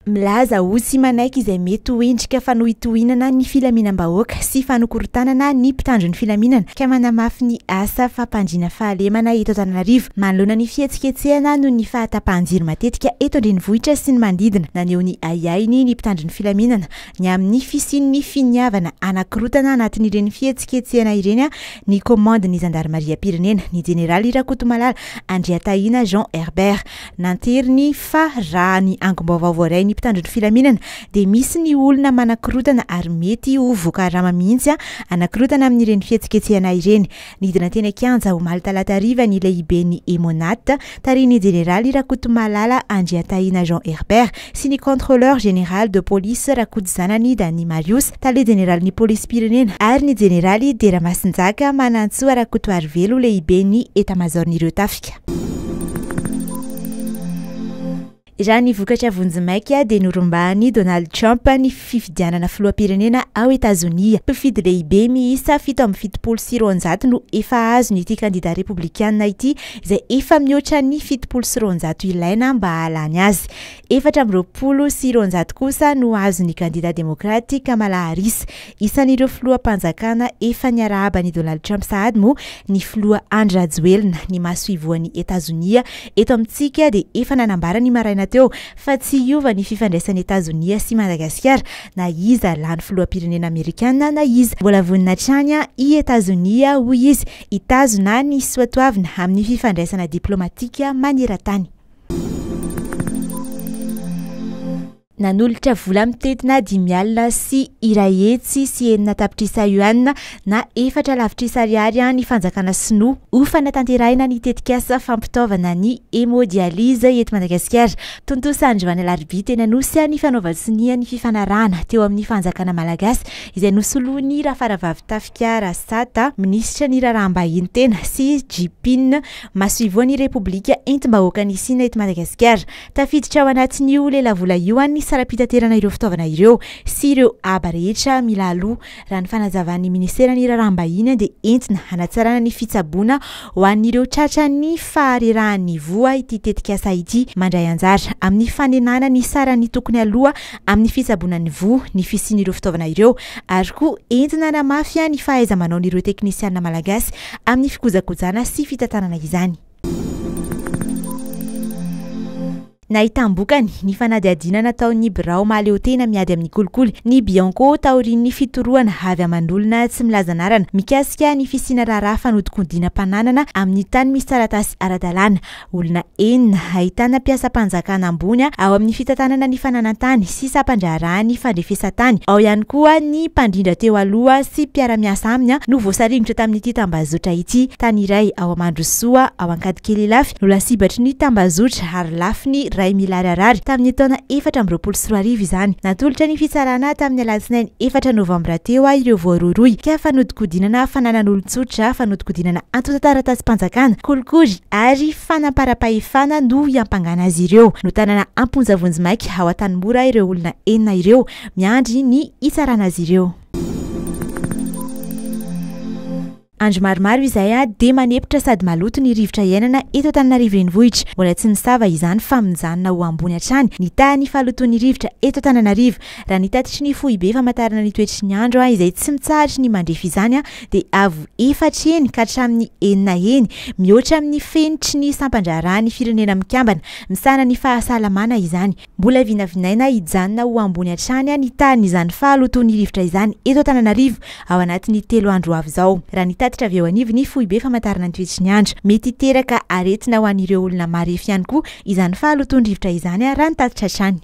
Milaza ho tsy manaiky izay mety ho endrika fanohitohinana ny filaminam-bahoaka sy fanokorotanana ny mpitandro ny filaminana ka manamafy ny asa fampandriana fahalemana eto Antananarivo manoloana ny fihetsiketsehana noho ny fahatapahan-jiro matetika eto an-drenivohitra sy ny manodidina. Naneho ny ahiahiny ny mpitandro ny filaminana ny amin'ny fisian'ny finiavana hanakorotana anatin'ireny fihetsiketsehana ireny ny komandin'ny zandarimariam-pirenena, ny jeneraly Rakotomalala Andriatahina Jean Herbert. Nanteriny fa raha ny angom-baovao voaray ny mpitandro ny filaminana dia misy ny olona manakorontana ary mety ho voakarama mihitsy hanakorontana amin'ireny fihetsiketsehana ireny. Nidina teny an-kianja omaly talata hariva ny lehiben'ny Emmo-Nat, tarihin'ny jeneraly Rakotomalala Andriantahina Jean Herbert, sy ny Contrôleur Général de Police Rakotozanany Dany Marius, Tale Jeneralin'ny Polisim-pirenena, ary ny Jeneraly Dia Ramasinjaka Manantsoa Rakotoarivelo, Lehiben'ny Etamazaon'ireo Tafika. Raha ny vokatra vonjimaika dia norombahan'i Donald Trump ny fifidianana filoham-pirenena ao Etazonia. Mpifidy lehibe miisa fito amby fitopolo sy roanjato no efa azon'ity kandida repoblikana ity izay efa mihoatra ny fitopolo sy roanjato ilaina mba hahalany azy. Efatra amby roapolo sy roanjato kosa no azon'ny kandida demokraty Kamala Harris, isan'ireo filoham-panjakana efa niarahaba an'i Donald Trump sahady moa ny filoha Andry Rajoelina, ny masoivohon'i Etazonia eto amintsika dia efa nanambara ny maraina teo fa tsy hiova ny fifandraisan'i Etazonia sy Madagasikara na iza lany filoham-pirenena amerikana na iza. Mbola vonona hatrany i Etazonia, hoy izy, Hitazona ny soatoavina amin'ny fifandraisana diplaomatika maneran-tany. Nanolotra vola mitentina dimy alina sy iray hetsy sy enina tapitrisa yuan na efatra lavitrisa ariary ny fanjakana sinoa ho fanatanterahina ny tetikasa fampitaovana ny hemodialyse eto Madagasikara. Tontosa androany alarobia teny Anosy ny fanaovan-tsonia ny fifanarahana teo amin'ny fanjakana malagasy izay nosoloan'i Rafaravavitafika Kiara Sata, minisitra ny Raharaham-bahiny tena, Xi Jipin, masoivohon'ny Repoblika entim-bahoakan'i Sina eto Madagasikara. Tafiditra ao anatin'io lelavola io ny saram-pitaterana ireo fitaovana ireo sy ireo haba rehetra mila aloha. Raha ny fanazavan'ny minisiteran'ny Raharaham-bahiny dia entina hanatsarana ny fitsaboana ho an'ireo tratran'ny faharerahan'ny voa ity tetikasa ity. Mandray anjara amin'ny fanenana ny saran'ny tokony aloha amin'ny fitsaboana ny voa ny fisian'ireo fitaovana ireo ary koa entina hanamafy ihany ny fahaiza-manaon'ireo teknisiana malagasy amin'ny fikojakojana sy fitantanana izany. Nahitam-bokany ny fanadihadiana nataon'ny birao mahaleotena miady amin'ny kolikoly, ny Bianco, taorian'ny fitorohana avy aman'olona tsy milaza anarana mikasika ny fisiana raharaha fanodinkodinam-pananana amin'ny tany misy taratasy ara-dalàna. Olona enina, ahitana mpiasam-panjakana ambony ao amin'ny fitantanana ny fananan-tany sy sampan-draharaha ny fandrefesan-tany, ao ihany koa ny mpandrindra teo aloha sy mpiara-miasa aminy no voasaringotra tamin'ity tambazotra ity. Tany iray ao Mandrosoa, ao Ankadikely Ilafy no lasibatry ny tambazotra ary lafiny iray milararary tamin'ny taona efatra amby roapolo sy roa arivo izany. Natolotra ny fitsarana tamin'ny alatsinainy efatra novambra teo ireo voarohirohy ka fanodinkodinana fananan'olon-tsotra, fanodinkodinana antontan-taratasim-panjakana, kolikoly, ary fanamparam-pahefana no iampangana azy ireo. Notanana am-ponja vonjimaika ao Antanimora ireo olona enina ireo, miandry ny hitsarana azy ireo. Andro maromaro izay dia manepotra sady maloto ny rivotra iainana eto Antananarivo Renivohitra. Mbola tsy nisava izany fa mijanona ho ambony hatrany ny tahan'ny fahalotoan'ny rivotra eto Antananarivo, raha ny tatitry ny Foibe famantarana ny toetry ny andro izay tsy mitsahatra ny mandrefy izany dia avo efatra heny ka hatramin'ny enina heny, mihoatra amin'ny fenitry ny sampan-draharahan'ny Firenena Mikambana misahana ny fahasalamana izany. Mbola vinavinaina hijanona ho ambony hatrany ny tahan'izany fahalotoan'ny rivotra izany eto Antananarivo ao anatin'ny telo andro ho avy izao, raha ny tatitra avy eo anivon'ny Foibe Famantarana ny Toetry ny Andro. Mety hiteraka aretina ho an'ireo olona marefo ihany koa izany fahalotoan-drivotra izany, raha ny tatitra hatrany.